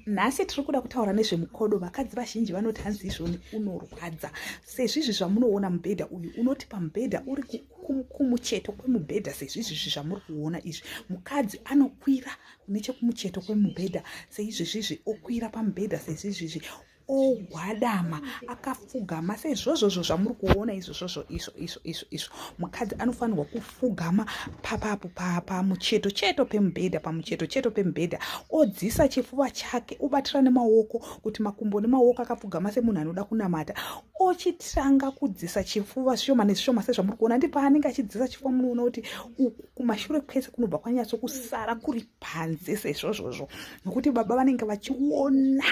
nhasi tiri kuda kutaura nezvemukodo vakadzi vazhinji vanoti hanzi izvoni unorwadza sezvizvi zvamunoona mubhedha uyu unoti pamubhedha uri kumucheto kwemubhedha sezvizvizvi zvamuri kuona izvi mukadzi anokwira nechekumucheto kwemubhedha seizvezvizvi okwira pamubhedha sezvizvizvi ogwadama akafugama seizvozvozvo zvamuri kuona izvozvozvo izvo izvo izvo izvo mukadzi anofanirwa kufugama papapo pamucheto cheto pemubhedha pamucheto cheto pemubhedha odzisa chifuva chake obatira nemaoko kuti makumbo nemaoko akafugama semunhu anoda kunamata ochitanga kudzisa chifuva zvishoma nezvishoma sezvamuri kuona ndi paanenge achidzisa chifuva munoona kuti uku kumashure kwese kunobva kwanyatso kusara kuri panze seizvozvozvo nokuti baba vanenge vachiona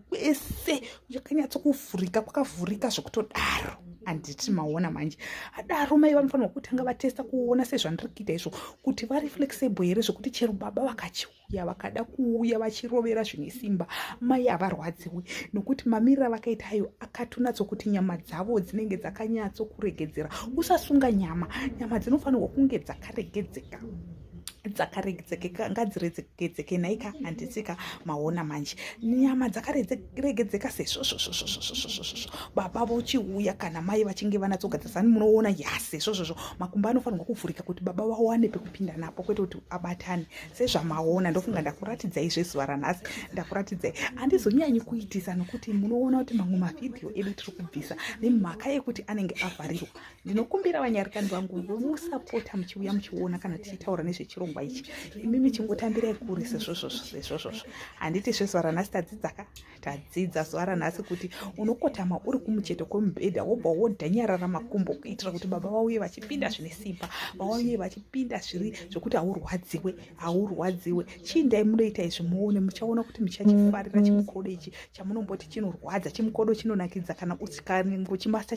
kwese yakanyatsokuvhurika kwakavhurika zvekutodaro handiti maona manje adaro mai vanofanirwa kutanga vatesta kuona sezvandiri kuita izvo kuti vari flexible here zvekuti chero baba vakachiuya vakada kuuya vachirovera zvine simba mai havarwadziwi nokuti mamirira vakaita ayo akatonatso kuti nyama dzavo dzinenge dzakanyatso kuregedzera usasunga nyama nyama dzinofanirwa kunge dzakaregedzeka dzakaregedzekeka ngadziregedzeke nhaika handisika maona manje nyama dzakaregedzeka sezvozvozvozvozvozvozvozvo baba vochiuya kana mai vachinge vanatsogadzisani munoona yase zvozvozvo makumba anofanirwa kuvhurika kuti baba vawane pekupinda napo kwete kuti abatane sezvamaona ndofunga ndakuratidzai zvezuva ranhasi ndakuratidzai handizonyanyi kuitisa nokuti munoona kuti mamwe mavhidhiyo edu tiri kubvisa nemhaka yekuti anenge avharirwa ndinokumbira vanyarikani vangu musapota muchiuya muchiona kana tichitaura nezvechirongwa ichi imi michingotambirai kure sezvozvozvozvozvozvo handiti zvezuva ranhasi tadzidzaka tadzidza zuva ranhasi kuti unokotama uri kumucheto kwemubhedha wobva wodhanyarara makumbo kuitira kuti baba vauye vachipinda zvine simba vauye vachipinda zviri zvekuti haurwadziwe haurwadziwe chii ndai munoita izvi muone muchaona kuti muchachifarira mm-hmm. chimukodo ichi chamunomboti chinorwadza chimukodo chinonakidza kana uchikanengo chimasa